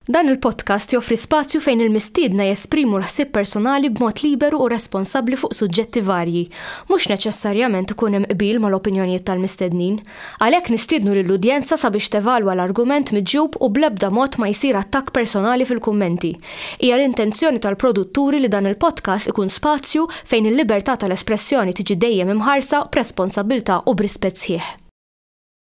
Dan il-podcast joffri spazju fejn il-mistiedna jesprimu l-ħsieb personali b'mod liberu u responsabbli fuq suġġetti varji. Mhux neċessarjament ikun hemm qbil mal-opinjonijiet tal-mistednin. Għalhekk nistiednu lill-udjenza sabiex tevalwa l-argument miġjub u bl-ebda mod ma jsir attakk personali fil-kummenti. Hija l-intenzjoni tal-produtturi li dan il-podcast ikun spazju fejn il-libertà tal-espressjoni tiġi dejjem imħarsa b'responsabbiltà u b'rispett sħiħ.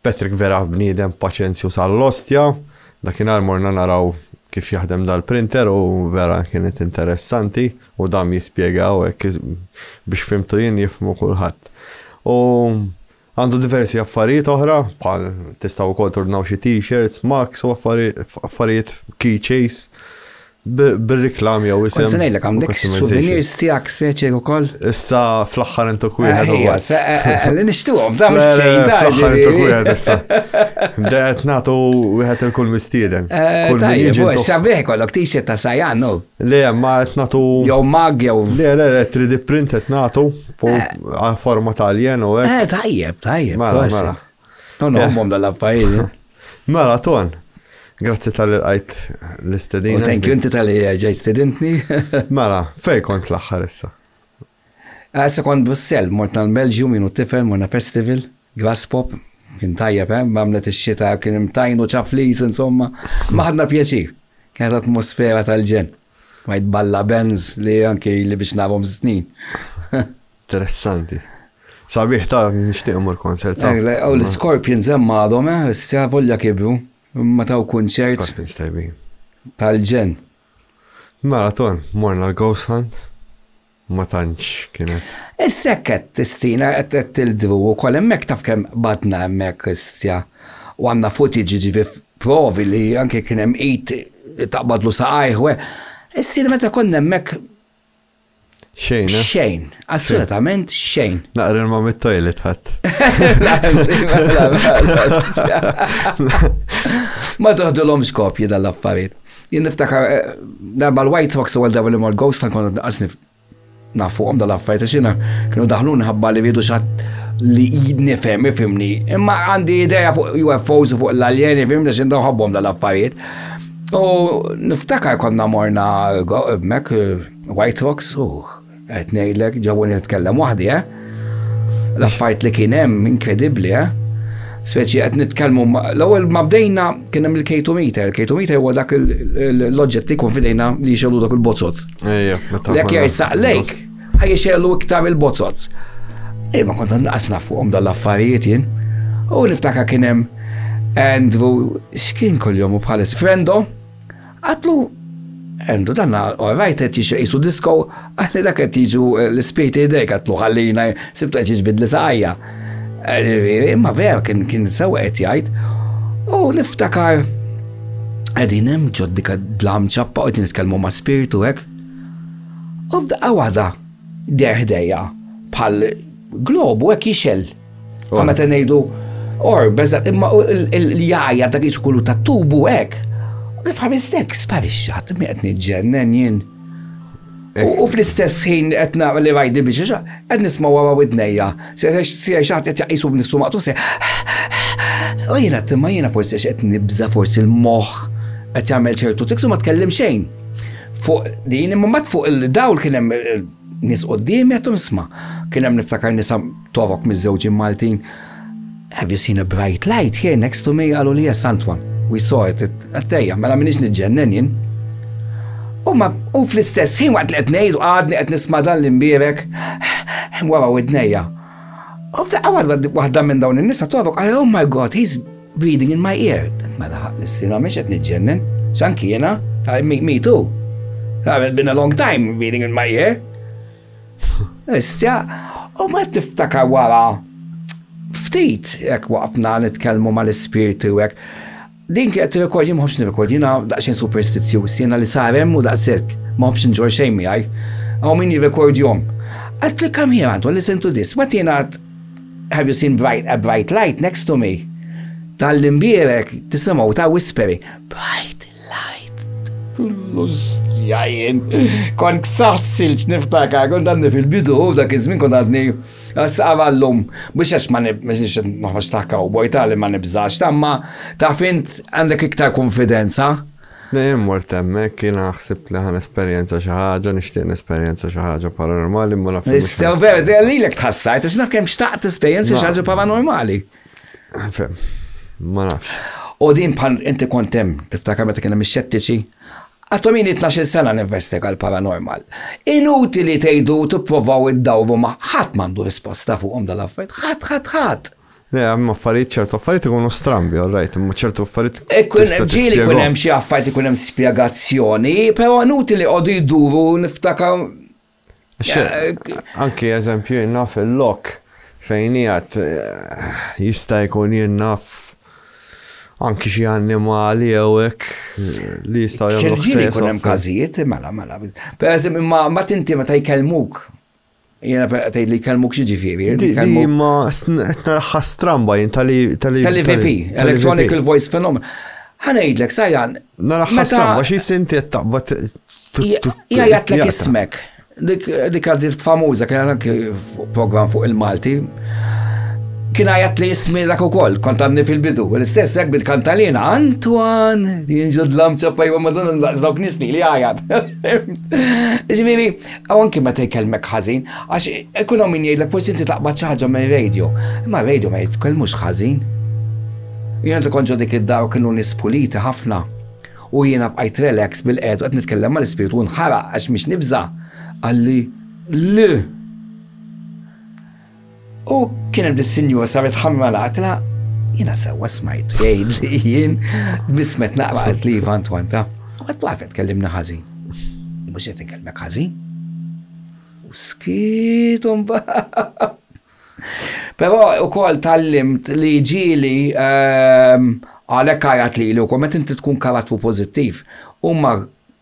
Patrick vera bniedem paċenzju sal-ostja, dakinhar morna naraw kif jaħdem dal-printer u vera kienet interessanti u dam jispjega u hekk biex fimtu jien jifhmu kulħadd. U għandu diversi affarijiet oħra, bħal tistgħu wkoll tordnaw xi t-shirts, mugs u affarijiet key chase. Bir-reklam jew isem. Kont ngħidlek għandek souvenirs tiegħek speċi ukoll. Issa fl-aħħar intu kwieħed u wieħed. Eh, eh, eh, li nixtuhom f'dan mhux b'xejn ta' fl-aħħar intu kwieħed issa. Dejqed nagħtu wieħed il-kull mistieden. Kull min jiġi. Sabiħ kollok t-shirt ta' sajan, no? Le, ma qed nagħtu. Jew mag jew. Le, le, le, 3D print qed nagħtu forma tal-jen u hekk. Tajjeb, tajjeb. Mela, mela. Nħommhom dal-affarijiet. Mela, ton. Grazzi tal qajt l-istedina. Thank you, inti tal-li ġej stedintni. Mela, fej kont l-axħar issa? Ah, issa kont Brussel, mort tal belġju minu tifel, morna festival, grass pop, kien tajjeb, eh? mamlet il-xita, kien imtajnu ċaflis, insomma, maħadna pjaċi. Kienet atmosfera tal-ġen. Majt balla Benz li anki li biex narom snin. Interessanti. Sabiħ ta' nixtieq immur konsert ta'. Għaw l-Scorpions hemm għadhom, eh, issa volja kibru, imma taw kunċert. Scorpions tajbin. Tal-ġen. Maraton, morna l-Ghost Hunt, ma tantx kienet. Is-sekket tistina qed tildru wkoll hemmhekk taf kemm badna hemmhekk issa. U għandna footage ġifi provi li anke kien hemm id taqbadlu saqajħwe. Issir meta konna hemmhekk Xejn, eh? Xejn, assolutament xejn. Naqra ma mit-toilet ħadd. Ma toħdulhom skopji dal-affarijiet. Jien niftakar eh, darba l-White Fox u għal li mor Ghost tal kont naqasni nafuhom dal-affarijiet għax jiena kienu daħlu nħabba li rridu xatt li nifhem ifimni. Imma għandi idea fuq UFOs u fuq l-aljeni fimni x'indaw ħabbhom dal-affarijiet. U niftakar konna morna mek White Rocks u qed ngħidlek ġew nitkellem waħdi, eh? L-affarijiet li kien hemm inkredibbli, eh? Speċi qed nitkellmu l-ewwel ma bdejna kien hemm il-K2 meter, il-K2 meter huwa dak l-oġġett li jkun fidejna li jxelu dak il-bozzot. Ejja, meta. Lek jgħid saqlejk. Ħajja xellu iktar il-bozzozz. Imma kont naqas naf fuqhom dal-affarijiet jien. U niftaka kien hemm Andrew x'kien kuljum u bħalis frendo. Għatlu Andrew dan orajt qed jixi qisu disko għalli dak qed jiġu eh, l-ispirti idejk għatlu ħallina sibtu qed jiġbidli sajja. Eh, imma vera kien kien sewa qed jgħid. U niftakar qegħdin hemm ġoddika dlam ċappa u nitkellmu ma' spiritu hekk U f'daqqa waħda der ħdejja bħal globu hekk jixel. U meta ngħidu or beża imma l-jajja dak iskullu tat-tubu hekk. U kif ħaristek sparixxat mi qed niġġennen jien. U fl-istess ħin qed nara li rajdi biex qed nisma' wara widnejja Sija xaħat qed jaqisu b'nifsu maqtu se. U jiena timma jiena forsi qed nibża forsi l-moħħ qed jagħmel ċertu tiksu ma tkellim xejn. Fuq din imma mat fuq il-dawl kien hemm eh, nies qudiem qed nisma'. Kien hemm niftakar nisa torok miż-żewġin Maltin. Have you seen a bright light here next to me? Għalu li yes, Antwan. We saw it. Għattejja, mela minix nġennen jien. U ma, u fl-istess ħin waqt li qed ngħidu għadni qed nisma' dan l-imbierek wara widnejja. U f'daqqa waħda waħda minn dawn in-nisa torok għal oh my god, he's breathing in my ear. Mela ħaq l-sina mhix qed niġġennen. X'anki jiena, me too. I've been a long time breathing in my ear. Issa, u ma tiftakar wara ftit jekk waqfna nitkellmu mal-ispirti u hekk. Din kienet rekord jien m'ħobx nirrekord, jiena daqsxejn superstizjuż, jiena li sar hemm u daqshekk, m'ħobx nġor xejn miegħi. Hawn min jirrekordjhom. Għad li come here Anton, listen to this. Wet jiena għad have you seen bright, a bright light next to me? Tal-imbierek tisimgħu ta' whispering, bright Lajt. Lussja jien. Kont ksaħt silġ niftakar, kont għadni fil-bidu, dak iż-żmien kont għadni għal-lum, biex għax ma nibżax maħfax ta' cowboy ta' li ma nibżax, ta' ma ta' fint għandek iktar konfidenza. Dejjem mort hemmhekk kien ħsibt li ħan esperjenza xi ħaġa, nixtieq nesperjenza xi ħaġa paranormali ma nafx. Istew vera, lilek tħassajt għax naf kemm xtaqt esperjenza xi ħaġa paranormali. Fem, ma nafx. U din bħal inti kont hemm tiftakar meta kien hemm ix-xettiċi? Għadhom ili 12 sena ninvestiga l-paranormal. Inutili tgħidu tipprovaw iddawru ma' ħadd m'għandu risposta fuqhom dal-affarijiet. Ħadd ħadd ħadd. Le, hemm affarijiet ċertu affarijiet ikunu strambi, all right, imma ċertu affarijiet. Ikun hemm ġieli ikun hemm xi affarijiet ikun hemm spjegazzjoni, però inutili qogħdu jduru niftakar Anki eżempju jenna fil-lok fejn jgħat eh, jista' jkun jenna anki xi annimali jew hekk eh, li jistgħu jagħmlu ħsejjes. Jkun hemm każijiet, mela, mela. Per eżempju, ma tinti meta jkellmuk Jena tgħid li kellmuk xi ġifieri. Di ma narħa stramba jien tal-VP, Electronical Voice Phenomenon. Ħanejdlek, sajjan, Nara ħastan, għax jistinti qed taqbad. Jgħidlek ismek. Dik għażiet famuża kien anke program fuq il-Malti. Kien għajat li jismi dak ukoll, kont għadni fil-bidu. L-istess hekk bil-kantalina, Antoine, jinġod lamċa pajwa madonna daqs dawk nisni li għajat. Ġifieri, Aw anki meta jkellmek ħażin, għax ikun hawn min jgħidlek forsi inti taqbad xi ħaġa mir-radio. Imma r-radio ma jitkellmux ħażin. Jiena tkun ġo dik id-dar u kienu nies puliti ħafna. U jiena bqajt relax bil-qed u qed nitkellem mal-ispirtu u nħaraq għax mhix nibża'. Qalli, Le! U kien hemm dis-sinjur saret ħamra l-akla, jiena sewwa smajt jgħid li jien dmismet naqra qalt li Ivan twanta. U qed taf qed kellimna ħażin. Mhux qed inkellmek ħażin. U skit u mbagħad. Però ukoll tallimt li ġieli ehm, għalhekk għajat li li wkoll meta inti tkun karattru pożittiv, huma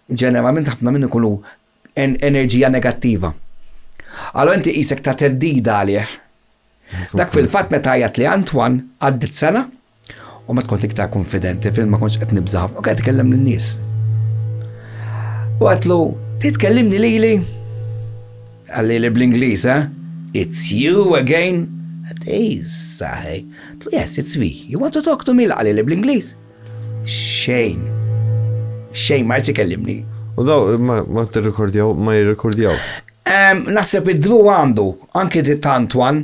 ġeneralment ħafna minn ikunu enerġija negattiva. Allora inti qisek ta' teddida għalih. Dak fil-fatt meta għajat li Antoine għaddit sena u ma tkun iktar konfidenti fil ma kontx qed nibżaħ u qed tkellem lin-nies. U għatlu, titkellimni lili? Għalli li bl-Ingliż, eh? It's you again? Ej, saħi. Yes, it's me. You want to talk to me? Għalli li bl-Ingliż? Xejn. Xejn, ma jtsi kellimni. U daw, ma t-rekordjaw, ma jirrekordjaw. Naħseb id-dru għandu, anki di tantwan,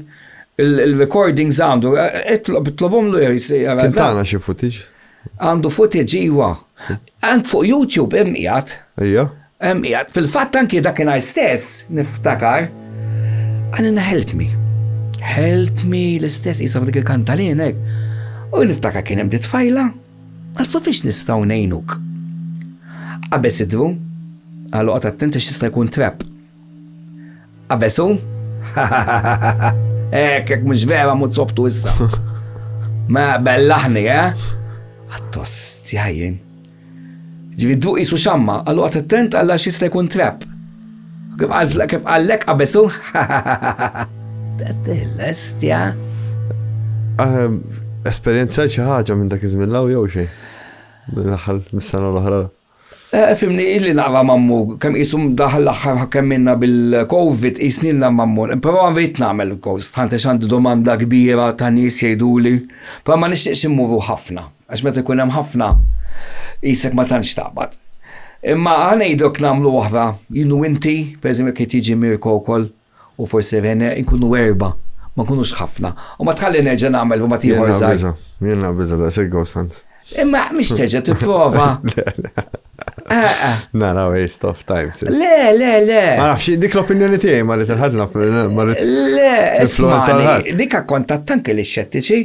il-recordings għandu, it-tlobom l Tintana xie footage? Għandu footage, iwa. Għand fuq YouTube, immiħat. Ija. Fil-fatt anki dakinhar stess niftakar għalilna help me. Help me l-istess jisaf dik il-kantalin hekk. U niftakar kien hemm tfajla, għallu fiex nistgħu ngħinuk. Qabeż idru, għallu qgħod attent għax jista' jkun trap. Qabeżu, hekk hekk mhux vera mhux sobtu issa. Ma bellaħni, eh? Għattost jajjen. Ġifieri dduq qisu xamma, allura oqgħod attent għal għax jista' jkun trap. Kif qallek qabesu? L-estja. Ehm, esperjenza xi ħaġa minn dak iż-żmien law jew xejn? L-aħħar mis-sena l-oħra. Eh, fimni illi naqra mammu, kemm jisum daħal l-axħar kemm minna bil-Covid, jisnilna mammu. Pero għanvejt namel il-kost, ħante xandu domanda kbira ta' nis jgħiduli, pero ma nixtieqx immuru ħafna. Għax meta jkun hemm ħafna qisek ma tantx taqbad. Imma ħa ngħidlok nagħmlu oħra, jien u inti, pereżempju jekk qed jiġi Mirko wkoll u forsi Rene, inkunu erbgħa, ma nkunux ħafna. U ma tħalli nerġa' nagħmel rumat ieħor żgħir. Jien naqbiżha, jien naqbiżha daqshekk ghost hunts. Imma mhix terġa' tipprova. Nara waste of time. Le, le, le. Ma nafx, dik l-opinjoni tiegħi ma rrid il-ħadna. Le, isma' dik akkontat tanki li xettiċi.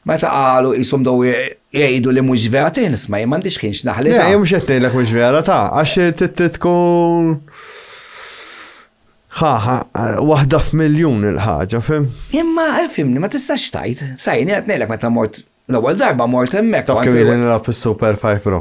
Meta qalu qishom dew jgħidu li mhux vera tejn isma' jien m'għandix ħin x'naħli. Le, mhux qed ngħidlek mhux vera ta' għax tkun ħaħa waħda f'miljun il-ħaġa, fim? Imma fimni ma tistax tajt, sajni qed ngħidlek meta mort l-ewwel darba mort hemmhekk. Taf kemm jien nilgħab is-Super 5 Pro.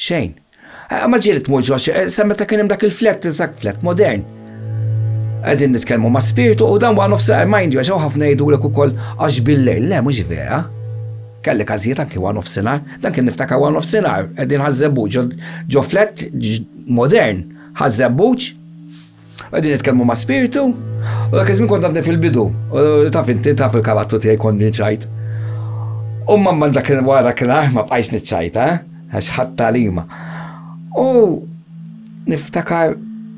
Xejn. Ma ġieli tmur ġo sa meta kien hemm dak il-flett, dak flett modern. Qegħdin nitkellmu ma' spirtu u dan wara nofs mind you għax ħafna jgħidulek ukoll għax bil-lejl, le mhux vera. Kelli każijiet anki wara nofsinhar, dan kien niftakar wara nofsinhar, qegħdin ħażżebbuġ ġo flett modern, ħażżebbuġ. Għadin nitkellmu ma' spirtu, u dak iż-żmien kont għadni fil-bidu, u taf inti taf il-karattru tiegħi kont niċċajt. U mamma dak wara kien ma bqajx niċċajt, eh? għax ħadd talima. U niftakar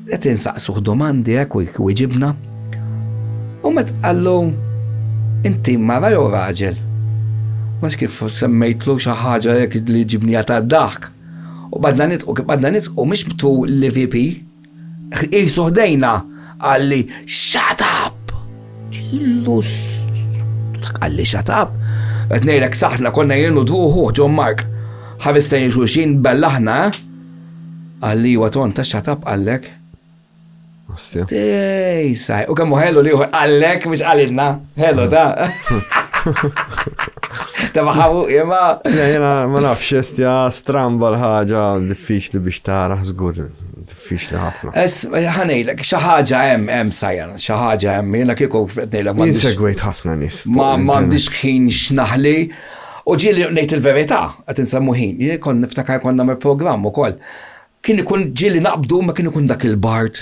qed insaqsuh domandi hekk eh, u jġibna. U met qallu inti mara jew raġel. Mhux kif semmejtlu xi ħaġa li ġibnija ta' dak. U badna nitqu, badna nitqu, mhux btu l-VP, Qisu ħdejna, qalli, Shut up! Illu dak qalli shut up. Qed ngħidlek saħħtna konna jien u dwuħu John Mark. Ħares lejn xulxin bellaħna, eh? Qalli iwa ton ta' shut up qallek. Ostja. Tej, saj. U kemm ħellu li qallek biex qalilna. Ħellu da. Ta' maħabu, jema. Jena, ma nafx, estja stramba l-ħagġa diffiċli biex tara, zgur, Diffiċli ħafna. Ħanejlek, xi ħaġa hemm hemm sajjan, xi ħaġa hemm jiena kieku ngħidlek ma. Insegwejt ħafna nies. Ma m'għandix ħin x'naħli. U ġieli ngħid il-verità, qed insemmu ħin, jien kon niftakar konna me programm ukoll. Kien ikun ġieli naqbdu ma kien ikun dak il-bart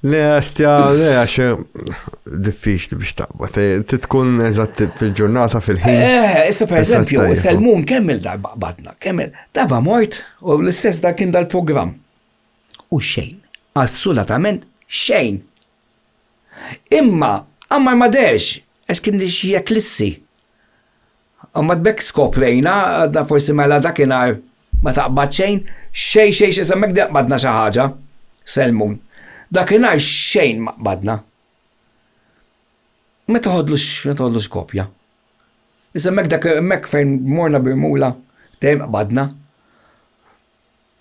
Le, għastja, le, għax eh, diffiċli biex taqba. Ti tkun eżatt fil-ġurnata fil-ħin. Eh, issa per eżempju, il-mun kemm il-darba qbadna, kemm il-darba mort u l-istess dak kien dal-program. U xejn, assolatament xejn. Imma, għammar ma dex, għax kien li xie klissi. Mbagħad b'hekk skoprejna, għadna forsi mela dakinhar ma taqbad xejn, xejn xejn xejn sa m'hekk qbadna xi ħaġa, Selmun. Dakinhar xejn ma qbadna. Ma toħodlux, ma toħodlux kopja. Issa m'hekk dak m'hekk fejn morna b'irmula dejjem qbadna.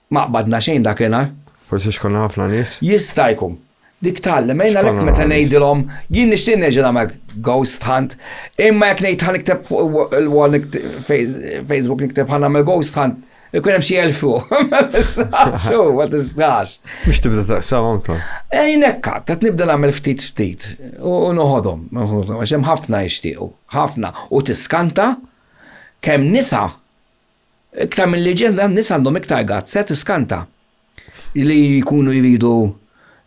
Ma qbadna xejn dak li nhar. Forsi x'konna ħafna nies? Jista' jkun. Dik tgħallem, għin għalhekk meta ngħidilhom, jien nixtieq nerġa' nagħmel ghost hunt, imma jekk ngħid ħa nikteb fuq il-wall Facebook nikteb ħa nagħmel ghost hunt, ikun hemm xi elfu. Ma tistax, ma tistax. Biex tibda taqsam anka. Ejn hekk, qed nibda nagħmel ftit ftit u noħodhom, għax hemm ħafna jixtiequ, ħafna u tiskanta kemm nisa Iktar milli ġilda n-nisa għandhom iktar gazz, qed iskanta. Li jkunu jridu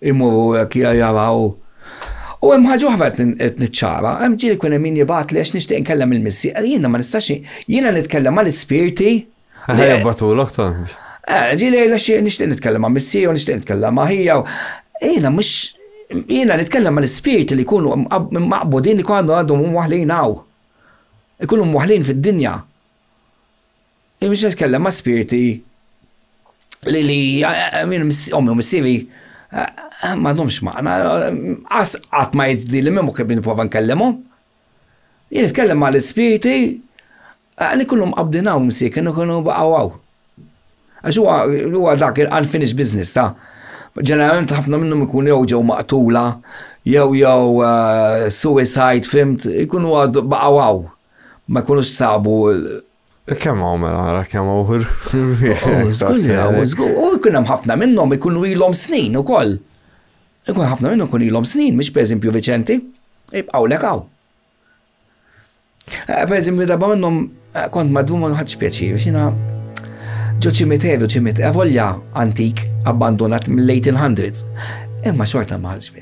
jmorru hekk jaraw. U hemm ħaġa oħra qed niċċara, hemm ġieli jkun hemm min jibgħatli għax nixtieq inkellem il-missi, jiena ma nistax jiena nitkellem mal-ispirti. Ħa jibgħatulok tant. Eh, ġieli jgħidla xi nixtieq nitkellem ma' missi u nixtieq nitkellem ma' ħija. Jiena mhux jiena nitkellem mal-ispirti li jkunu maqbudin li jkunu għandhom waħlin hawn. Ikunu waħlin fid-dinja. Imma xi tkellem ma' spirti li li ommi u missieri m'għandhomx maqna, qas qatt ma jidli li minn kif nipprova nkellimhom. Jien nitkellem ma' l-ispirti li kienu mqabbdin hawn missier, kienu baqgħu hawn. Għax huwa huwa dak il-unfinished business ta', ġeneralment ħafna minnhom ikunu jew ġew maqtula jew jew suicide fhimt, ikunu baqgħu hawn. ma jkunux sabu Kemm hawn mela ara kemm hawn U jkun hemm ħafna minnhom ikunu ilhom snin ukoll. Ikun ħafna minnhom ikun ilhom snin, mhux pereżempju Viċenti, ibqgħu lek hawn. Eh, pereżempju darba minnhom eh, kont madwum ma nħadx pjaċir, biex jiena ġo ċimiteru ċimit, avolja antik abbandonat mill-1800s. Imma xorta ma ħadx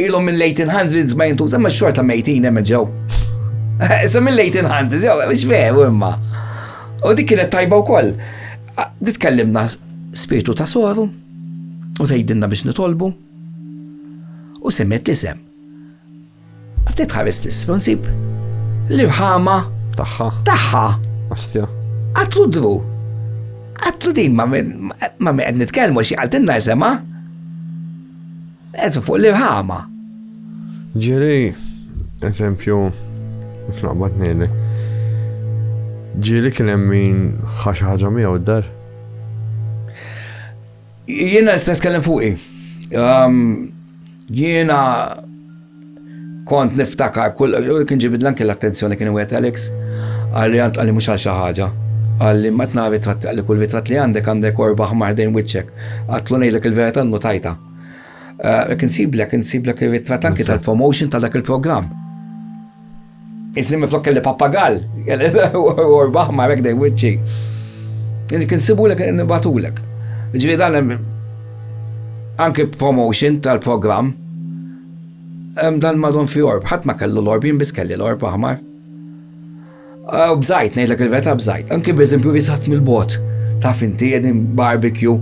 Ilhom mill-1800s ma jintuża ma xorta mejtin hemm ġew. Issa mill-1800s jew mhux veru imma. U dik kienet tajba wkoll. Nitkellimna spirtu ta' soru u tgħidilna biex nitolbu. U semmet l-isem. Ftit ħares l-isfel nsib l-irħama tagħha. Tagħha. Astja. Għatlu dru. Għatlu din ma' qed nitkellmu xi qaltilna isema' Eżu fuq l-irħama. Ġiri, eżempju, f'naqbad nejlek. Ġiri kien hemm min ħax ħaġa miegħu d-dar. Jiena se nitkellem fuqi. Um, jiena Kont niftakar kull, u kien ġibidli anki l-attenzjoni kien wieħed Alex, qalli għad qalli mhux għal xi ħaġa. Qalli ma qed nara ritratti qalli kull ritratt li għandek għandek korba ħmar ħdejn wiċċek. Għadtlu ngħidlek il-verità nnutajtha. Hekk insiblek, insiblek ir-ritratt anki tal-promotion ta' dak il-programm. Isni miflok kelli pappagall, u rbaħ ma rekdej wicċi. Jeni kien sibulek nibatulek. Ġviri dan anki promotion tal-program, dan madon fi orb, ħat ma kellu l-orb, jien bis kelli l-orb aħmar. U bżajt, nejdlek il-veta bżajt, anki b'eżempju ritrat mill-bot, taf inti jedin barbecue,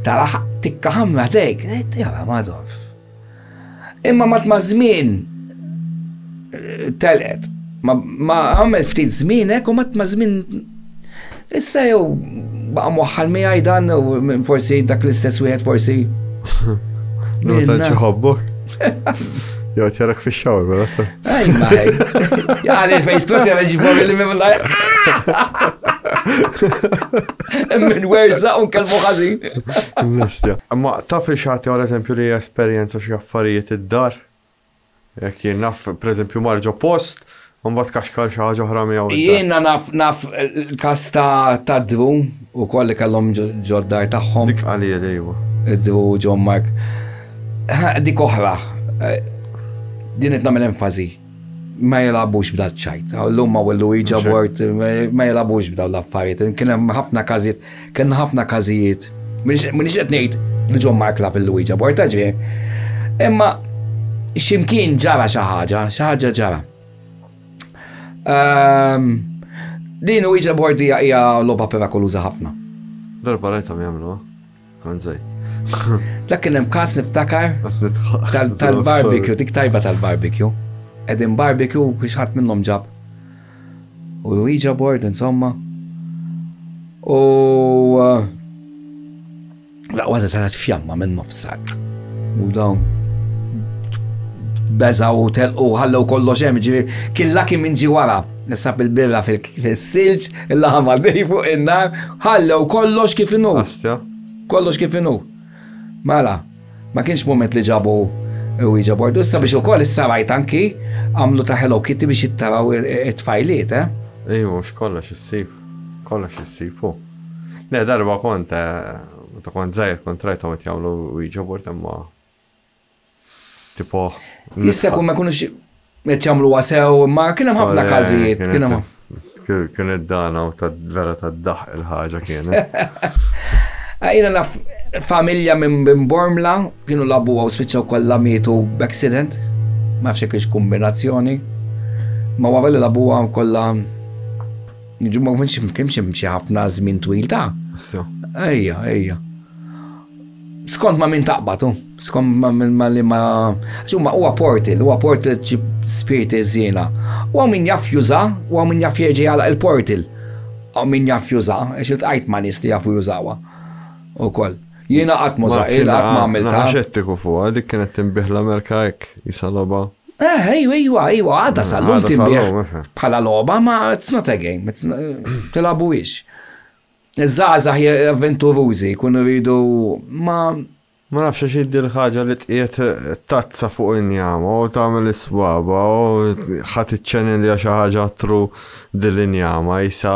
taraħ tikka ħamra dejk, jgħara madon. Imma mat ma' żmien telqet. Ma għamel ftit żmien hekk u mat ma' żmien issa jew baqa' mwaħħal miegħi dan forsi dak l-istess wieħed forsi. Nota ċiħobbok? Jew tjarak fix-xawr, Ej, maħi. Għan il-Facebook jgħal ġibor li minn lajk. Minn werza un kelmu ħazin. Nistja. Ma taf li xaħti għal eżempju li esperienza xie affarijiet id-dar. Jek jien naf, per eżempju, marġo post, un bat kaxkar xaħġa ħra miegħu. Jiena naf naf il-kas ta' drum Ukoll li kellhom ġo d-dar tagħhom. Dik Qaliel, ejwa. Iddu John Mark. Dik oħra. Eh, din qed nagħmel enfazi. Ma jilagħbux b'dat ċajt. Llum ma wellu iġa bort, ma jilagħbux b'daw l-affarijiet. Kien hemm ħafna każijiet, kien ħafna każijiet. Minix qed ngħid li John Mark lab il-Luiġa bort, ġifieri. Imma ximkien ġara xi ħaġa, xi ħaġa ġara. Ehm, din u iġa bordija hija loba perakoluza ħafna. Darba rajta mi għamlu, għanżaj. Dak kien hemm kas niftakar tal-barbecue, dik tajba tal-barbecue. Edin barbecue kiex ħadd minnhom ġab. U iġa bord insomma. U uh, La waħda talat fjamma minn nofsak. U dawn beża u telqu ħallew kollox hemm ġifi kien laki minn ġi wara. Nisab il-birra fil-silġ, il-laħam għaddej fuq in-nar, ħallew kollox kif inhu. Kollox kif inhu. Mela, ma kienx moment li ġabu u iġa bordu. Issa biex ukoll issa rajt anki għamlu ta' Hello Kitty biex jittaraw it-tfajliet, eh? Ejju, x'kollox issib. Kollox issib, Le darba kont meta kont żgħir kont rajthom qed jagħmlu jġobur imma tipo. Jista' jkun ma jkunux qed jagħmlu wasew, ma kien hemm ħafna każijiet, kien hemm. Kien id-dana u ta' vera ta' daħ il-ħaġa kienet. Għajna naf familja minn Bormla kienu labu għaw spiċċaw kollha mietu b'accident, ma fxek kombinazzjoni, ma għavelli labu għam kollha Jiġu ma kienx kienx hemm xi ħafna żmien twil ta' Issa. ejja, ejja. Skont ma' min taqbad, u, skont ma' min ma' li ma' għax huma huwa portal, huwa portal ġib spiriti żiena. U hawn min jaf juża, u hawn min jaf jerġa' jagħlaq il-portal. Hawn min jaf juża, għax iltqajt ma' nies li jafu jużawha ukoll. Jiena qatt ma żaqil, qatt ma għamiltha. Naħa xettiku fuqha, dik kienet tinbih l-Amerika hekk, jisa logħba. Eh, ejwa, ejwa, ejwa, għadha sal-lum tinbih. Bħala logħba, ma it's not a game, tilabu ix. Iż-żgħażagħ avventurużi jkunu rridu ma Ma nafx xi jiddi l-ħaġa li tqiet tazza fuq injama u tagħmel iswaba u ħadd iċċenilja xi ħaġa tru dil-injama jisa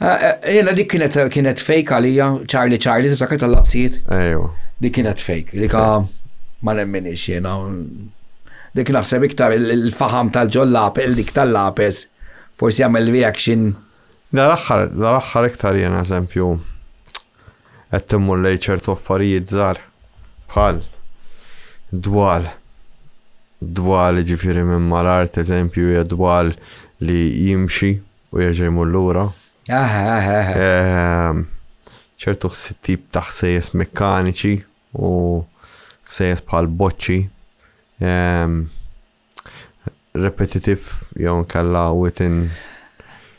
Eh, eh, jena dik kienet kienet fake għalija, Charlie Charlie, t-sakret tal-lapsijiet. Ejwa. Dik kienet fake, dik ma nemminix jena. Dik naħseb iktar il-faham tal-ġollapel, dik tal-lapes, forsi għamil reaction. Da l-axħar, da l-axħar iktar jena eżempju, għed timmur lej ċertu affarijiet zar, bħal, dwal, dwal ġifiri minn mal-art, eżempju, dwal li jimxi U jerġa' jmur lura. Aha, aha, aha. Ehm, ċertu ħs- tip ta' ħsejjes mekkaniċi u ħsejjes bħal boċċi. ehm, repetitive jew nkella within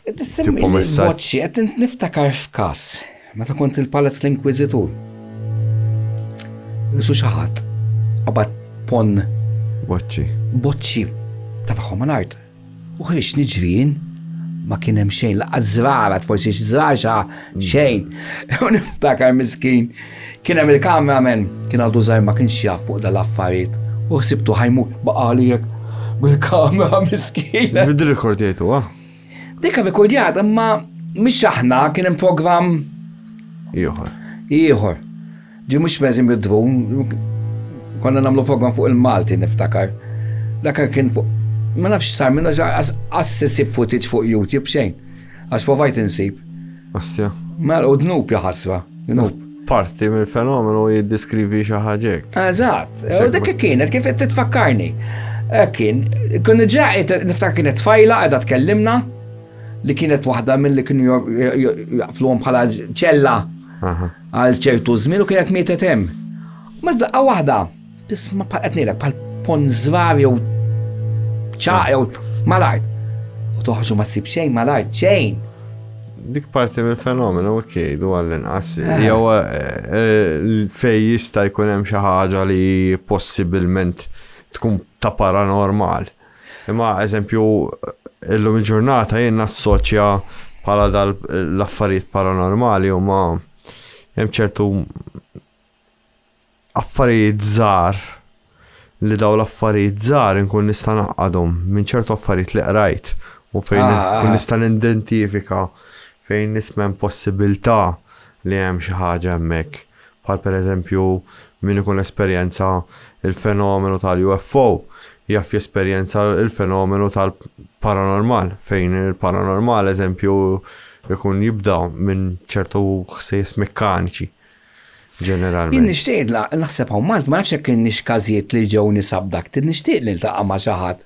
Qed issemmi Tipo li messaġġ. boċċi, qed int- niftakar f'każ meta kont il-Palazz l-Inkwiżitur. Isu xi ħadd qabad pon boċċi. boċċi ta' tagħhom mal-art. U ħriġt niġri jien, ma kien hemm xejn, laqas żrarat, forsi x'żrarxa xejn. U niftakar miskin, kien hemm il-kameraman, kien għadu żgħir ma kienx jaf fuq dal-affarijiet. U ħsibtu ħajmu baqali jekk bil-kamera miskin. Vidi rekordjajtu, ah? Dika rekordjat, imma mhix aħna kien hemm programm. Ieħor. Ieħor. Ġi mhux benzin bid-dvun, konna nagħmlu program fuq il-Malti niftakar. Dakar kien fuq ma nafx sar minna għas sisib footage fuq YouTube xejn. Għax provajt insib. Astja. Mela, u dnub jaħasra, dnub. Parti mill fenomenu jiddiskrivi xi ħaġek. Eżatt, u dik kienet kif qed titfakkarni. Eh, kien, kun ġa niftakar kienet tfajla qiegħda tkellimna li kienet waħda mill-li kienu jaqfluhom bħala ċella. Għal ċertu żmien u kienet mietet hemm. U meta daqqa waħda, tisma' bħal qed ngħidlek bħal pon żvar jew ċaq jew mal-art. U toħroġ u ma ssib xejn mal-art xejn. Dik parti mill-fenomenu kienu għall-inqas. Eh. Jew eh, eh, fej jista' jkun hemm xi ħaġa li possibilment tkun ta' paranormal. Imma eżempju illum il-ġurnata jien nassoċja bħala dal l-affarijiet paranormali huma hemm ċertu affarijiet żgħar li dawn l-affarijiet żgħar inkun nista' ngħaqqadhom minn ċertu affarijiet li qrajt u fejn ah, ah. kun nista' nidentifika fejn nisma' hemm possibilità li hemm xi ħaġa hemmhekk. bħal pereżempju min ikun esperjenza l-fenomenu tal-UFO jaf jesperjenza l-fenomenu tal-paranormal, fejn il-paranormal, eżempju, ikun jibda minn ċertu ħsejjes mekkaniċi ġeneralment. Jien nixtieq naħseb hawn Malta, ma nafx jekk kienx każijiet li ġew nies abducted, nixtieq niltaqa' ma' xi ħadd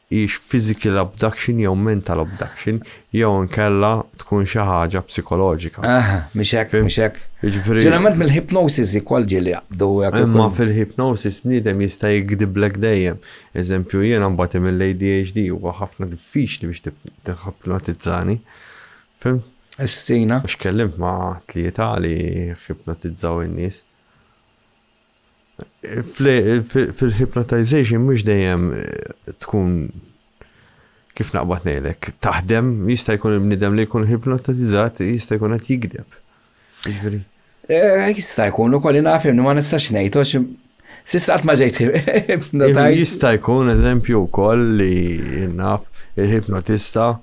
hix physical abduction jew mental abduction jew inkella tkun xi ħaġa psikoloġika. Aha, mhix hekk, mhix hekk. Jiġifieri Ġeneralment mill-hypnosis ikoll ġieli jaqbdu hekk Imma ukoll. fil-hypnosis bniedem jista' jigdiblek dejjem. Eżempju jiena mbagħti mill-ADHD huwa ħafna diffiċli biex tip- tiħipnotizzani. Fhimt? Essina. Għax tkellimt ma' tlieta li ħipnotizzaw in-nies. Fil-hypnotization mhux dejjem tkun kif naqbad ngħidlek, taħdem, jista' jkun il-bniedem li jkun hypnotizzat jista' jkun qed jigdeb. Jiġifieri. Eh, jista' jkun ukoll naf li ma nistax ngħid għax Sista ma ġejt Jista' jkun eżempju wkoll li naf il-hipnotista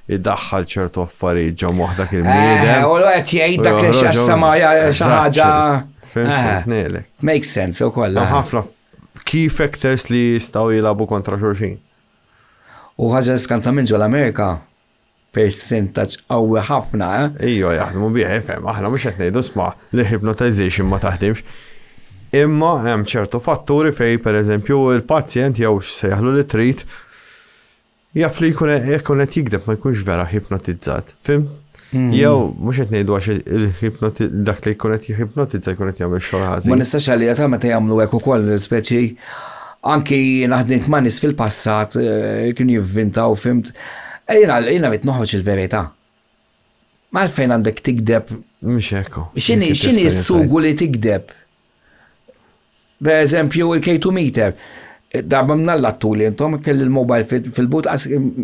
idaħħal ċertu affarijiet ġo moħħ dak il-bniedem. Eh, u qed jgħid dak li x'jassama xi ħaġa. Eh, makes sense ukoll. Eh. Ħafna key factors li jistgħu jilagħbu kontra xulxin. U ħaġa skanta minn ġol Amerika percentaċ qawwi ħafna. Ejjo, jaħdmu bieħ, fem, aħna mhux qed ngħidu sma' li hypnotization ma taħdimx. Imma hemm ċertu fatturi fej pereżempju il-pazjent jew x'sejħlu li trid Jaf li jkun jekk kun qed jikdeb ma jkunx vera hipnotizzat, fim? Hmm. Jew mhux qed ngħidu għax il-hipnoti dak li jkun qed jihipnotizza jkun qed jagħmel xogħol ħażin. Ma nistax għalija ta' meta jagħmlu hekk ukoll speċi anki naħdint ma' nies fil-passat eh, kien jivvintaw fimt. Eh, jiena jiena rid noħroġ il-verità. Malfejn għandek tikdeb. Mhux hekk. X'inhi x'inhi s-sugu li tikdeb? Per eżempju, il-K2 meter. Darba minn Alla tuli intom, kelli l-mobile fil-but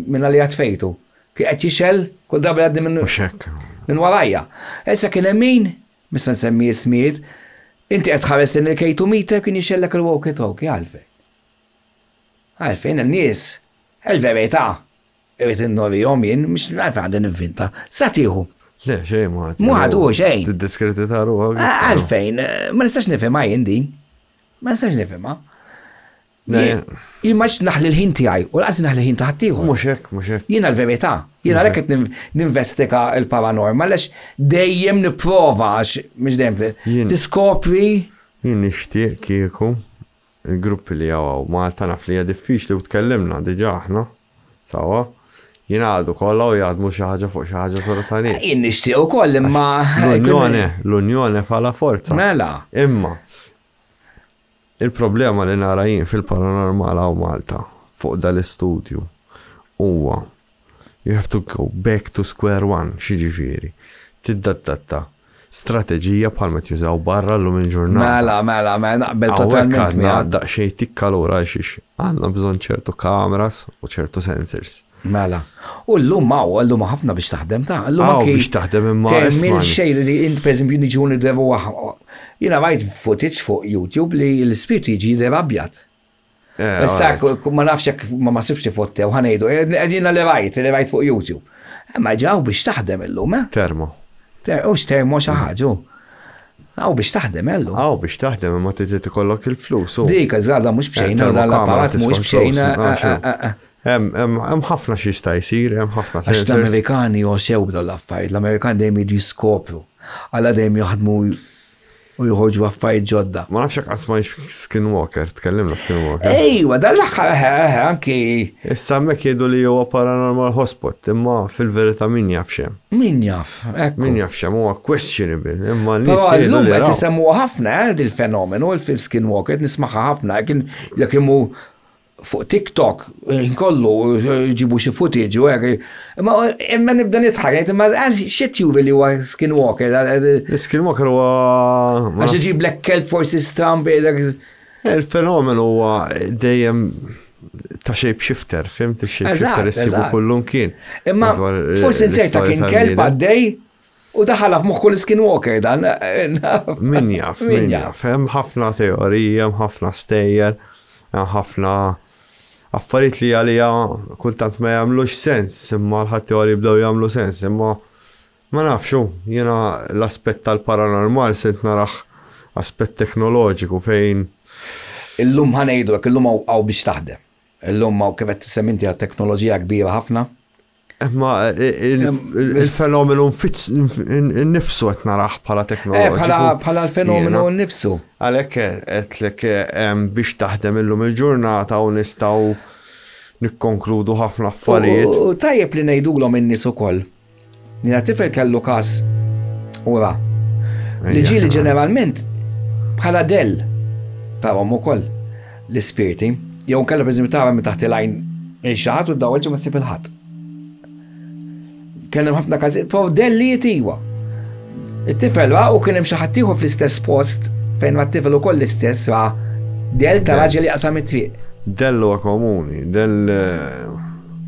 minna li għatfejtu. Kien qed jixel, kull darba li għaddi minn. Xek. Minn warajja. Issa kien hemm min, mista nsemmi ismijiet, inti qed tħares lejn il-K2 meter kien jixellek il-walkie talkie għalfejn. Għalfejn il-nies, il-verità, Irrid innorihom jien, mhux nagħrf għandi ninvinta. Sa tieħu. Le, xejn ma għad. Ma għad u xejn. Tiddiskredita ruħek. Għalfejn, ma nistax nifhimha jien din. Ma nistax nifhimha. Jien ma naħli l-ħin tiegħi u laqas naħli l-ħin ta' ħaddieħor. Mhux hekk, mhux hekk. Jiena l-verità. Jiena għalhekk qed ninvestika l-paranormal għax dejjem nipprova għax mhux dejjem tiskopri. Jien nixtieq kieku Il-gruppi li hawn hawn Malta naf li hija diffiċli u tkellimna diġà aħna sewwa. Jingħaqdu kollha u jaħdmu xi ħaġa fuq xi ħaġa sura ta' nies. Jien nixtieq ukoll imma. L-unjone, l-unjone fa la forza. Mela. Imma il-problema li nara jien fil-paranormal hawn Malta fuq dal-istudju huwa You have to go back to square one, x'jiġifieri? Tiddaddatta. Strateġija bħal ma qed jużaw barra llum il-ġurnata. Mela, mela, mela, naqbel totalment miegħek. Hawnhekk għandna daqsxejn tikka għalura għalxiex għandna bżonn ċertu cameras u ċertu sensors. Mela. U llum hawn, llum ħafna biex taħdem ta' llum anki. biex taħdem imma. Temmil xejn li int pereżempju niġu nidrevu Jiena rajt footage fuq YouTube li l-ispirtu jiġi jidher abjad. Eh, Issa, ma nafx jekk ma ma sibx tifotte u ħanejdu, għedina eh, li rajt, li rajt fuq YouTube. Eh, ma ġaw biex taħdem illum, eh? Termo. U x'termo xi ħaġa. Għaw biex taħdem ellu. Għaw biex taħdem imma trid tikollok il-flus. Dik iżgħada mhux bxejna u dan l-apparat mhux bxejna. Hemm ħafna xi sta jsir, hemm ħafna sensors. Għax l-Amerikani josew l-affarijiet, l-Amerikani dejjem jiġu jiskopru. Alla dejjem jaħdmu u joħorġu affarijiet ġodda. Ma nafx qatt ma Skinwalker, tkellimna Skinwalker. Ejwa, dan l-aħħar eh, eh, eh, anki. Issa mek jgħidu li huwa paranormal hotspot, imma fil-verità min jaf xem. Min jaf, ekku. Min jaf xem huwa questionable, imma nies jgħidu li. Qed isemmu ħafna dil-fenomenu fil-Skinwalker, nismaħħa ħafna, kien jekk imur fuq TikTok, ħin kollu ġibu xi footage u hekk. Imma imma nibda nidħak, ngħid imma għal xi tjuvi li huwa skinwalker. Skinwalker huwa. Għax iġib lek kelb forsi stram bejlek. Il-fenomenu huwa dejjem ta' shape shifter, fimt il-shape shifter issibu kullum kien. Imma forsi nserta kien kelb għaddej U daħala f'moħħ kull skinwalker dan. Min jaf, min jaf. Hemm ħafna teorija, hemm ħafna stejjer, hemm ħafna affarijiet li għalija kultant ma jagħmlux sens, imma l-ħadd teoriji bdew jagħmlu sens, imma ma nafxu, jiena l-aspett tal-paranormal se naraħ aspett teknoloġiku fejn. Illum ħanejdu, illum għaw biex taħdem. Illum għaw kif qed tissemminti għal teknoloġija kbira ħafna Ma il-fenomenu nifsu qed naraħ bħala teknoloġiku. Eh, bħala l-fenomenu nifsu. Għalhekk qedlek biex taħdem illum il-ġurnata u nistgħu nikkonkludu ħafna affarijiet. U tajjeb li ngħidulhom in-nies ukoll. Nina tifel kellu każ ura. Li ġieli ġeneralment bħala dell tawhom ukoll. l-ispirti, jew inkella pereżempju tagħmel minn taħt il-għajn lil xi ħadd u ddawwel ġimgħa ssib il-ħadd. Kien hemm ħafna każijiet prow dellijiet iwa. It-tifel ra u kien hemm xi ħadd ieħor fl-istess post fejn ma t-tifel ukoll l-istess ra del ta' raġel jaqsam it-triq. Dell huwa komuni, dell eh,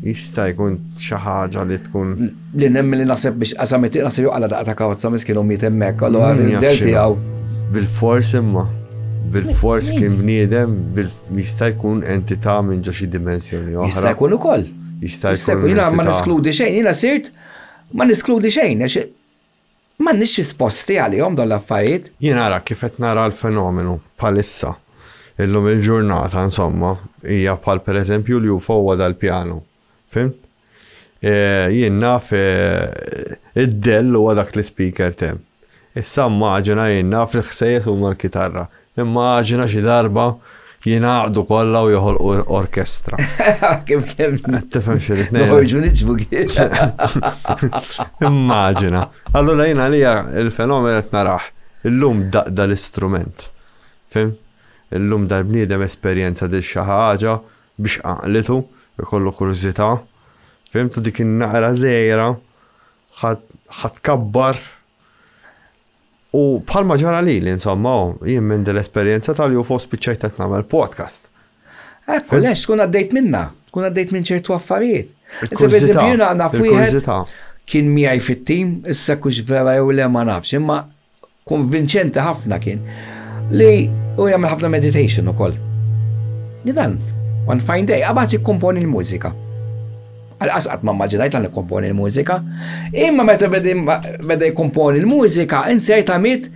jista' jkun xi ħaġa li tkun. li nemmen li naħseb biex qasam it-tieq naħseb joqala daqqa ta' kawza miskin u miet hemmhekk, allura r-del tiegħu. Bil-fors imma, bil-fors kien bniedem, jista' jkun entità minn ġo xi dimensjoni oħra. Jista' jkun ukoll. Jista' jkun. Jiena ma niskludi xejn, jiena sirt ma niskludi xejn, għax ma nix risposti għalihom dawn l-affarijiet. Jien ara kif qed nara l-fenomenu bħalissa illum il-ġurnata, insomma, hija bħal pereżempju li huwa dal-pjanu Fhimt? Jien naf id-dell huwa dak li speaker temm. Issa immaġina jien naf li l-ħsejjes huma l-kitarra. Immaġina xi darba jingħaqdu kollha u joħolqu orkestra. Kif kemm. Tifhem xi rid ngħid. Noħorġu niġbu Immaġina. Allura jien għalija il-fenomen qed narah. Illum daqda l-istrument. Fim? Illum dal-bniedem esperjenza dil xi ħaġa biex għaqlitu jkollu kurżità, fehimtu dik in-naqra żgħira ħa tkabbar u bħalma ġara lili insomma hu, jien minn din l-esperjenza tal-UFO spiċċajt qed nagħmel podcast. Ekku, lex tkun għaddejt minnha, tkun għaddejt minn ċertu affarijiet. Issa pereżempju jiena naf wieħed kien miegħi fit-tim, issa kux vera jew le ma nafx, imma Konvinċenti ħafna kien li u jagħmel ħafna meditation ukoll. Li dan, one fine day, qabad jikkomponi l-mużika. Għal-qasqat ma maġinajt għan jikkomponi l-mużika. Imma meta beda jikkomponi l-mużika, insejt għamit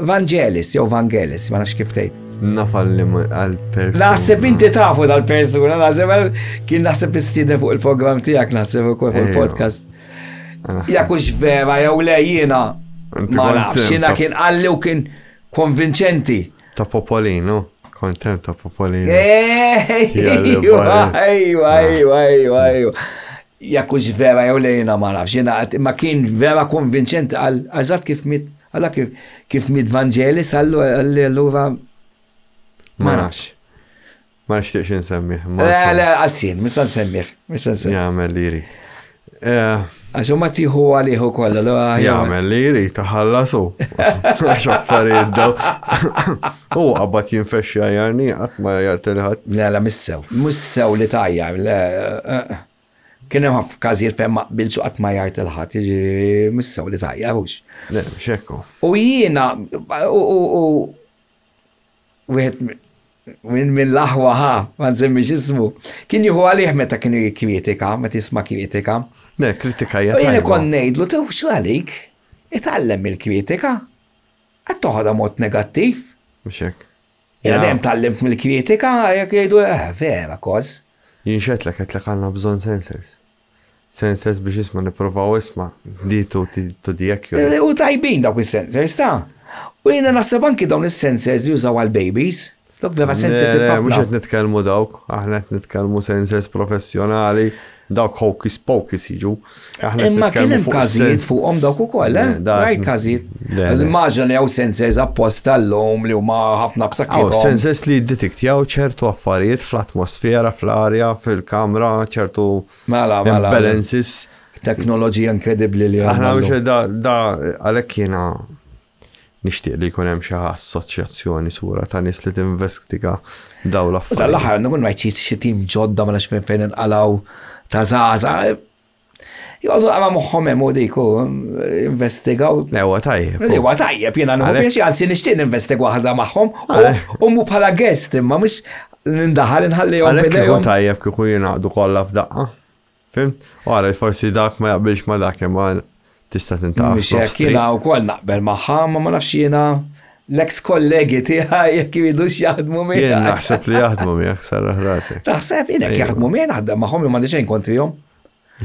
Vangelis, jew Vangelis, ma nafx kif tgħid. Nafal li għal-persuna. Naħseb inti tafu dal-persuna, naħseb kien naħseb istiden fuq il-program tijak, naħseb u fuq il-podcast. Eh, Jekk hux vera jew le jiena ma nafx, jiena kien qalli u kien konvinċenti. Ta' Popolino, kontent ta' Popolino. Ejwa, ejwa, ejwa, ejwa, ejwa. Jekk hux vera jew le jiena ma nafx, jiena ma kien vera konvinċenti għal eżatt kif mit, għal kif mit Vangelis għallu allura ma nafx. Ma nixtieqx insemmih. Le, le, għassin, mista nsemmih. Mista nsemmih. Jagħmel li jrid. Eh, Għax ma tiħu għalih ukoll. Jagħmel li jrid taħallasu. Għax affarijiet daw. U qabad jinfexxi għajarni qatt ma jartilħat. Le, le, missew. Missew li tajja. Eh, kien hemm ħafna każijiet fejn ma qbilx qatt ma jgħid il-ħadd, jiġifieri missew li tajja hux. Le, xekku. U jiena u wieħed minn min l-aħwa ħa, ma nżemmix ismu, kien jieħu għalih meta kienu jikkritika, meta jisma' kritika. Le, kritika jgħid. Jien ikon ngħidlu tew x'għalik, itgħallem il-kritika. Qed toħodha mod negattiv. Mhux hekk. Jena dejjem tallimt mill-kritika, jekk jgħidu, eh, vera, kos. Jinxetlek qed lek għandna bżonn sensors. Sensors biex isma' nipprovaw isma' di to to di accurate. U tajbin dawk is-sensors ta'. U jiena naħseb anki dawn is-sensors li jużaw għall-babies. Dawk vera sensitive ħafna. Le le mhux qed nitkellmu dawk, aħna qed nitkellmu sensors professjonali, dawk hocus pocus jiġu. Imma kien hemm każijiet fuqhom dawk ukoll, eh? Rajt każijiet. L-maġna li għaw sensors apposta l-lum li huma ħafna b'sakkitom. Għaw sensors li jiddetiktjaw ċertu affarijiet fl-atmosfera, fl-arja, fil-kamra, ċertu mela, mela, mela. balances. Teknoloġija inkredibbli li għaw. Aħna biex da, da, għalek jena nishtiq li jkun hemm xi assoċjazzjoni sura ta' nies li tinvestiga daw l-affarijiet. Tal-aħħar nkun rajt xi tim ġodda ma nafx fejn inqalgħu ta' żgħażagħ Jgħodu għama moħħom hemm u dik u investigaw. Le huwa tajjeb. Le huwa tajjeb jiena nħu biex għansi nixtieq investig waħda magħhom u mu bħala guest imma mhux nindaħal inħallihom. Għalhekk huwa tajjeb kieku jingħaqdu kollha f'daqqa. Fim? Għara, forsi dak ma jaqbilx ma dak imma tista' tintaqaf. Mhux hekk jiena wkoll naqbel magħha, ma ma nafx jiena l-eks kollegi tiegħi jekk iridux jaħdmu miegħek. Jien naħseb li jaħdmu miegħek sarraħ rasek. Taħseb jien jekk jaħdmu miegħi naħdem magħhom imma xejn kontrihom.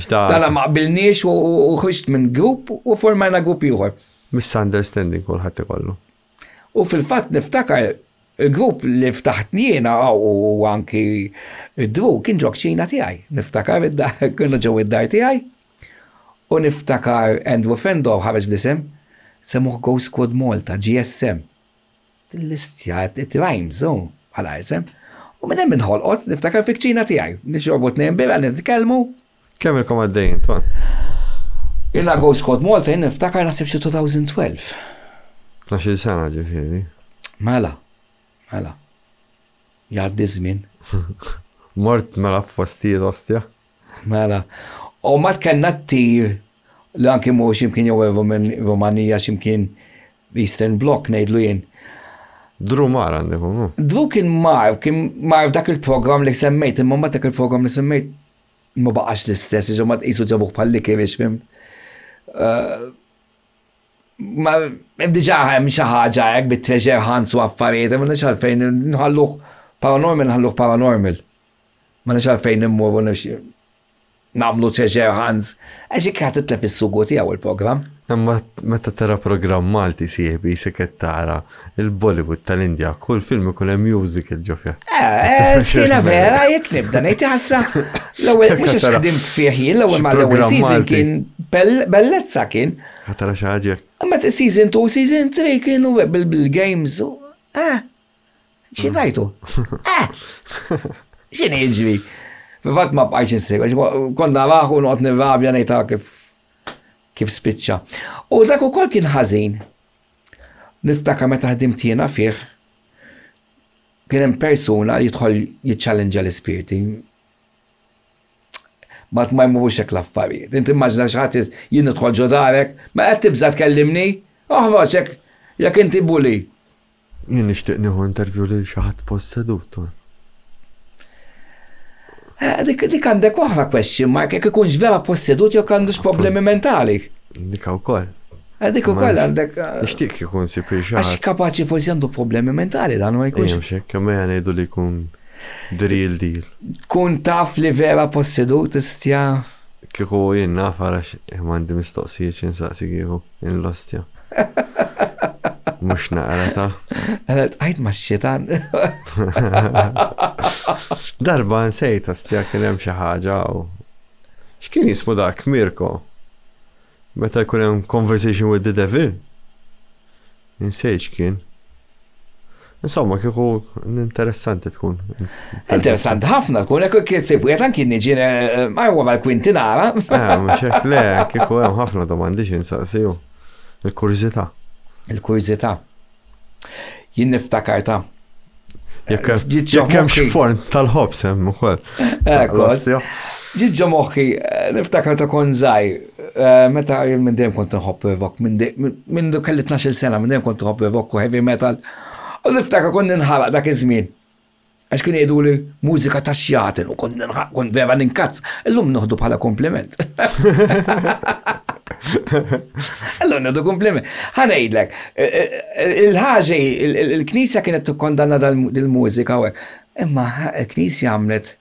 Tala ma qbilniex u ħriġt minn grupp u formajna grupp ieħor. Misunderstanding kulħadd ikollu. U fil-fatt niftakar il-grupp li ftaħt jiena u anki id-dru kien ġok ċina tiegħi. Niftakar id-dar, kienu ġew id-dar tiegħi. U niftakar Andrew Fendall ħareġ b'isem, semmuh Ghost Squad Malta, GSM. Din l-istja, it rhymes hu bħala isem. U minn hemm inħolqot, niftakar fil-kċina tiegħi, nixorbu tnejn birra, nitkellmu. Kemm ilkom għaddejjin, Ton? Ilna Ghost Squad Malta jien niftakar naħseb xi 2012. Tnax-il sena ġifieri. Mela, mela. Jgħaddi ż-żmien. Mort mela f'postijiet ostja? Mela. U mbagħad kellna t-tir li anki mur x'imkien jew ir-Rumanija x'imkien l-Eastern Bloc ngħidlu jien. Drew mar għandek hu. Drew kien mar, kien mar f'dak il-programm li semmejt, imma mbagħad dak il-programm li semmejt ma baqax l-istess, jiġifieri ma tqisu ġabuh bħal likirix, fimt? Ma diġà hemm xi ħaġa hekk bit-treasure hunts u affarijiet, m'għandniex għalfejn nħalluh paranormal, nħalluh paranormal. Ma nafx għalfejn immorru nagħmlu treasure hunts, għax hekk ħadd itlef is-sugu tiegħu il-programm. Imma meta tara programm Malti sieħbi jisek qed tara il-Bollywood tal-Indja, kull film ikun hemm musical ġo fih. Eh, sina vera jekk nibda ngħid ħassa. L-ewwel mhux għax ħdimt fih jien l-ewwel ma l-ewwel season kien bellezza kien. Ħatara xi ħaġa. Imma season 2, season 3 kienu bil-games. Eh, Xi ngħidu? Eh! Xi niġri? Fil-fatt ma bqajx insegwa, kont naraħu noqgħod nirrabja ngħid ah, kif kif spiċċa. U dak ukoll kien ħażin. Niftaka meta ħdimt jiena fih kien hemm persuna jidħol jiċċallenġa l-ispirti. Mat ma jmurux hekk l-affarijiet. Inti immaġina xi ħadd jien nidħol ġo darek, ma qed tibża' tkellimni, oħroġ hekk jekk inti buli. Jien nixtieq nieħu interview lil xi ħadd possedut u. Eh, dik, dik għandek oħra question mark, jekk ikunx vera possedut jew għandux problemi mentali. Dik wkoll. Eh, dik ukoll għandek. Eh, nixtieq ikun si pixar. Għax kapaċi forsi għandu problemi mentali dan ma jkunx. Jemx, kemm ngħidu li jkun drill deal. Kun taf li vera possedut istja. Kieku jien naf għax eh, m'għandi mistoqsijiet xi nsaqsi kieku. Il-lostja. Mux naqra ta. Għalet, għajt ma xietan. Darba nsejt, ostja, kien hemm xi ħaġa u. X'kien jismu dak, Mirko? Meta jkun hemm conversation with the devil? Insej x'kien. Insomma, kieku interessanti tkun. Interessanti ħafna tkun, ekku kien sib wieħed anki niġi għajwa mal-kwinti nara. Ah, mhux hekk le, kieku hemm ħafna domandi xi nsaqsiju. Il-kurżità. Il-kurżità. Jien niftakar ta' Jekk hemm xi forn tal-ħobs hemm ukoll. Ġiġġa moħħi, eh, niftakar ta' kon żgħir, eh, meta minn dejjem kont nħobb revok, minn du kelli 12 sena minn dejjem kont nħobb revok u heavy metal. U niftakar kon ninħaraq dak iż-żmien. Għax kien jgħidu li mużika ta' xjaten u kon ninħaraq kon vera ninkazz, illum noħdu bħala kompliment. Illum noħdu kompliment. Ħanejdlek, Il-ħaġa hi, il-Knisja kienet tikkondanna dil-mużika u hekk. Imma l-Knisja għamlet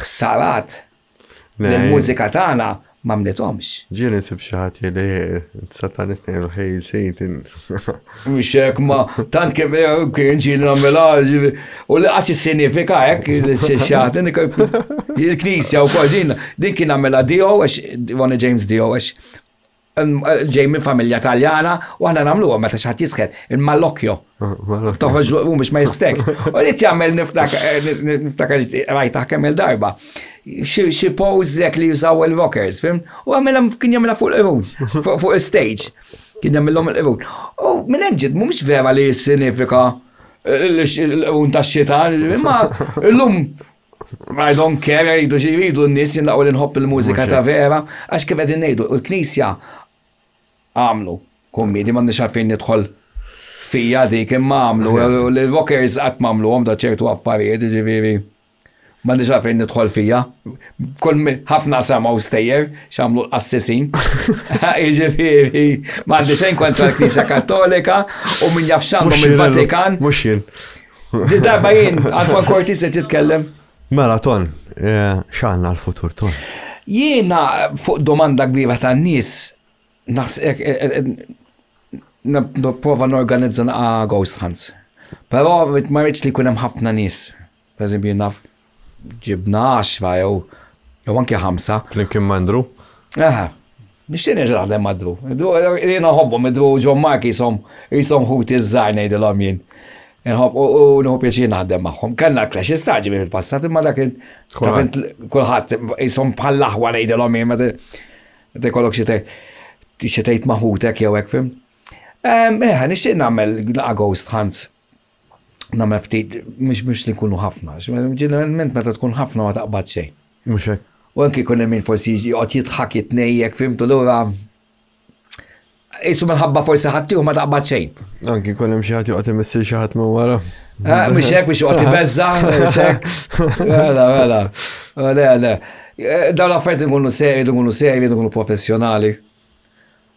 ħsarat li l-mużika tagħna ma mnithomx. Ġieli nsib xi ħadd jgħidli satanist ngħidlu ħej Satan. Mhux hekk ma tant kif kien ġieli nagħmilha u li qas jissinifika hekk li xi ħadd il-Knisja wkoll din din kien għamilha Dio għax Ronnie James Dio għax ġej minn familja taljana u aħna nagħmluha meta xi ħadd jisked il-malokjo. Toħroġ u biex ma jistek. U li tagħmel niftakar rajt kemm il-darba. Xi pose jekk li jużaw il-rockers, fim? U għamilha kien jagħmilha fuq il-irun, fuq il-stage. Kien jagħmilhom il-irun. U minn hemm ġid mhumiex vera li jissinifika l-irun tax-xita, imma llum I don't care, jridu xi jridu n-nies, jien l-aqwa li nħobb il-mużika ta' vera, għax kif qegħdin ngħidu, u l-Knisja għamlu kummidi, m'għandniex għalfejn nidħol fija dik imma għamlu, l-rockers qatt m'għamluhom da ċertu affarijiet, ġifieri m'għandniex għalfejn nidħol fija. Kull ħafna samaw stejjer x'għamlu l-qassisin. Ġifieri m'għandi xejn kontra l-Knisja Kattolika u min jaf x'għandhom il-Vatikan. Mhux jien. Darba jien, Alfa Korti se titkellem. Mela, ton, eh, xanna l-futur, ton. Jiena fuq domanda kbira ta' nis, naħsek, eh, eh, prova n-organizza naqa ghost hunts. Pero ma rridx li kunem ħafna nis. Per naf ġibna għaxra jew jew anke ħamsa. Flimkien ma' Ndru? Aha. Nixtieq nerġa' naħdem ma' Ndru. Jiena nħobbhom Ndru u John Mark jisom jisom ħuti żgħar ngħidilhom jien. U nħobb pjaċir naħdem magħhom. Kellna l-clash istaġi minn il-passat imma dak kulħadd jisom bħall-aħwa ngħidilhom jien meta jkollok xi tgħid ma' ħutek jew hekk fim. Eħe, nixtieq nagħmel għagost Hans. Namel ftit, mux biex li kunu ħafna, ġeneralment meta tkun ħafna ma taqbad xej. Muxek. U anki kun min forsi jgħot jitħak jitnejjek, fimtu l-ura. Isu minħabba forsi ħattiju ma taqbad xejn. Anki kun hemm xi ħadd joqgħod imissir xi ħadd minn wara. Eh, mhux hekk biex joqgħod ibeżża, mhux hekk. Mela, mela. Mela, mela. Eh, dawn l-affarijiet nkunu seri, nkunu seri, nkunu professjonali.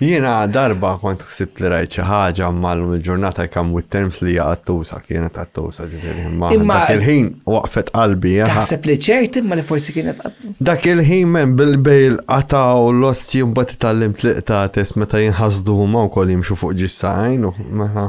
Jiena darba kont ħsibt li rajt xi ħaġa imma llum il-ġurnata I come with terms li hija qattusa, kienet qattusa ġifieri imma Imma- dak il-ħin waqfet qalbi. aha. Taħseb li ċert imma li forsi kienet qattu. Dak il-ħin men bil-bejl qataw l-osti mbagħad itallimt li qtates meta jinħasdu huma wkoll jimxu fuq ġissajn u meta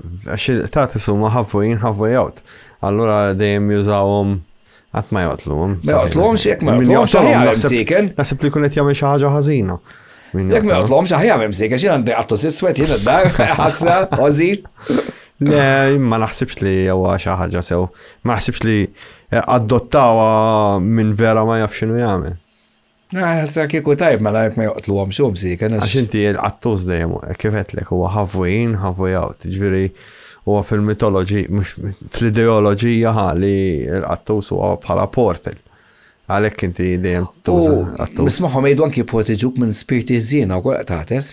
Għax il-qtat isuma ħavvujin ħavvuj għawt. Allura dejjem jużawhom qatt ma joqtluhom. Ma joqtluhom xi jekk ma joqtluhom xi ħaġa msiken. Naħseb li jkun qed jagħmel xi ħaġa ħażina. Jekk ma joqtluhom xi ħaġa msiken, xi għandi qattu siswed jien id-dar, ħassa, ożi. Le, ma naħsibx li huwa xi ħaġa sew. Ma naħsibx li adottawa minn vera ma jafx x'inhu jagħmel. Issa kieku tajb mela jekk ma joqtluhomx hu msieken għax. Għax inti qattuż dejjem hekk kif għedtlek huwa half way in, half way out, jiġifieri huwa fil-mitoloġi, mhux fl-ideoloġija ħa li l-qattuż huwa bħala portal. Għalhekk inti dejjem tuża qattuż. Nismagħhom jgħidu anki poetiġuk minn spirti ħżiena wkoll qed tagħtes.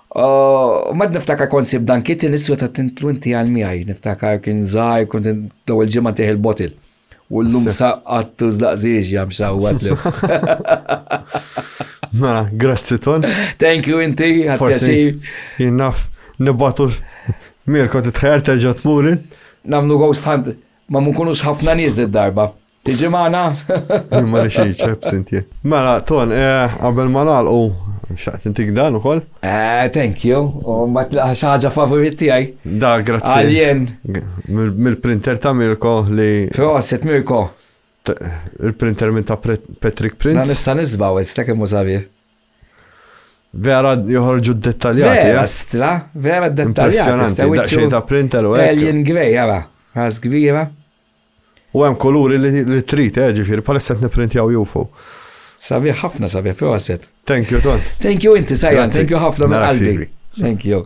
U mad niftakar kont sib dan kit niswa ta' tintlu inti għal miegħi, niftakar kien żgħar kont l-ewwel ġimgħa tieħ il-bottle. U l-lum saqqat u zlaqżiex jam xawwat li. Ma, grazzi ton. Thank you inti, għatkaċi. Jinnaf, nibbatu Mirko titħajar terġa tmurin. Namlu ghost hunt, ma munkunux ħafna nies darba. Tiġi maħna? Ma li xie ċep, sinti. Mela, ton, eh, qabel ma nalqu, xaqt intik dan ukoll? Eh, thank you. U ma tlaħax ħaġa favorit tiegħi. Da, grazzi. Alien. Mill-printer ta' Mirko li. Proset, Mirko. Il-printer minn ta' Patrick Prince. Ma nista' nisbaw, issa kemm użavi. Vera joħorġu dettaljati. Vera, eh? stra, vera dettaljati. Impressionanti, da' xejn ta' printer u Alien Grey, għara. Għaz kbira. U hemm kuluri li trid, eh, ġifieri bħalissa qed nipprintjaw jufu. Sabiħ ħafna sabiħ, proset. Thank you, Ton. Thank you inti, Sajan, thank you ħafna minn qalbi. Thank you.